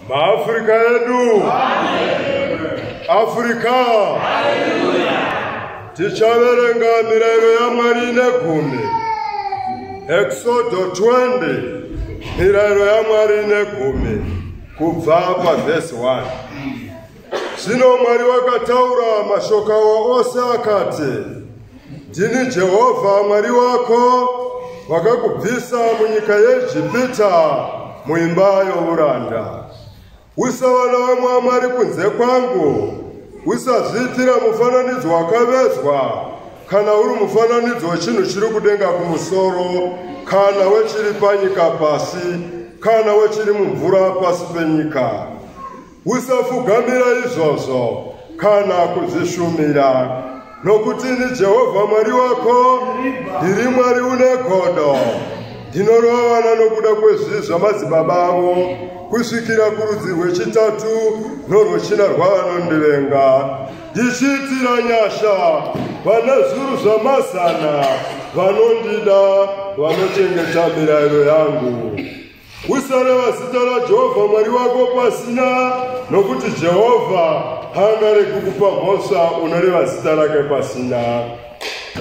maafrica edu africa tichaverenga mirayiro yamwari ine gumi exodo 20 mirayiro yamwari ine gumi kubva pavhesi 1 Zvino Mwari wakataura mashoko awa ose akati, Ndini Jehovha Mwari wako, wakakubvisa munyika yeEgipita muimba youranda. Usava navamwe vamwari kunze kwangu, usazviitira mufananidzo wakavezwa kana uri mufananidzo wechinhu chiri kudenga kumusoro kana wechiri panyika pasi kana wechiri mumvura pasi penyika. Usafugamira izvozvo kana kuzvishumira, nokuti ini Jehovha Mwari wako ndiri Mwari une godo. Ndinorovana nokuda kwezvi zvamadzibaba avo kusvikira kurudzi rwechitatu norwechina rwavanondivenga, ndichiitira nyasha vana zuru zvamazana vanondida vanochengeta mirayiro yangu. Usareva zita raJehovha Mwari wako pasina, nokuti Jehovha haangaregi kukupa mhosva unoreva zita rake pasina.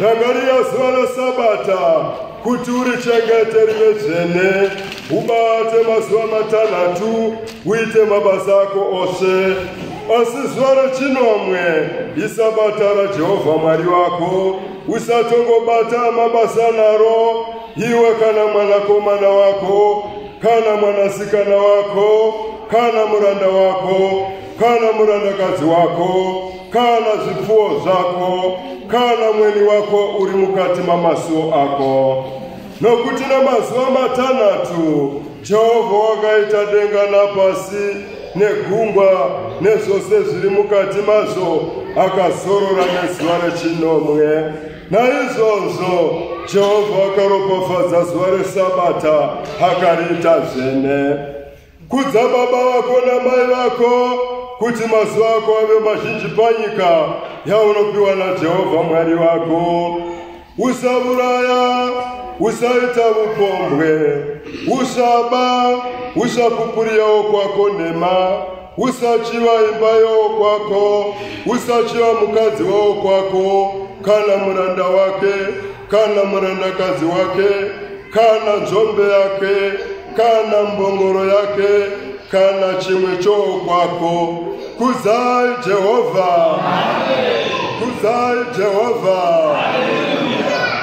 Rangarira zuva reSabata kuti urichengete rive dzvene, ubate mazuva matanhatu uite mabasa ako ose. Asi zuva rechinomwe iSabata raJehovha Mwari wako, usatongobata mabasa naro iwe kana mwanakomana wako kana mwanasikana wako kana muranda wako kana murandakadzi wako kana zvipfuwo zvako kana mweni wako uri mukati mamasuo ako nokuti namazuva matanhatu jehovha wakaita denga napasi negungwa nezvose zviri mukati mazvo akazorora nezuva rechinomwe Naizvozvo Jehovha akaropafadza zuva reSabata akariita zvene. Kudza baba vako namai vako kuti mazuva ako ave mazhinji panyika yaunopiwa naJehovha Mwari wako. Usavuraya, usaita vupombwe, usaba, usapupuriyawo kwako nhema. usachiva imba yowokwako usachiva mukadzi wowokwako kana muranda wake kana murandakadzi wake kana nzombe yake kana mbongoro yake kana chimwe chowokwako kuzai jehovha kuzai jehovha Amen.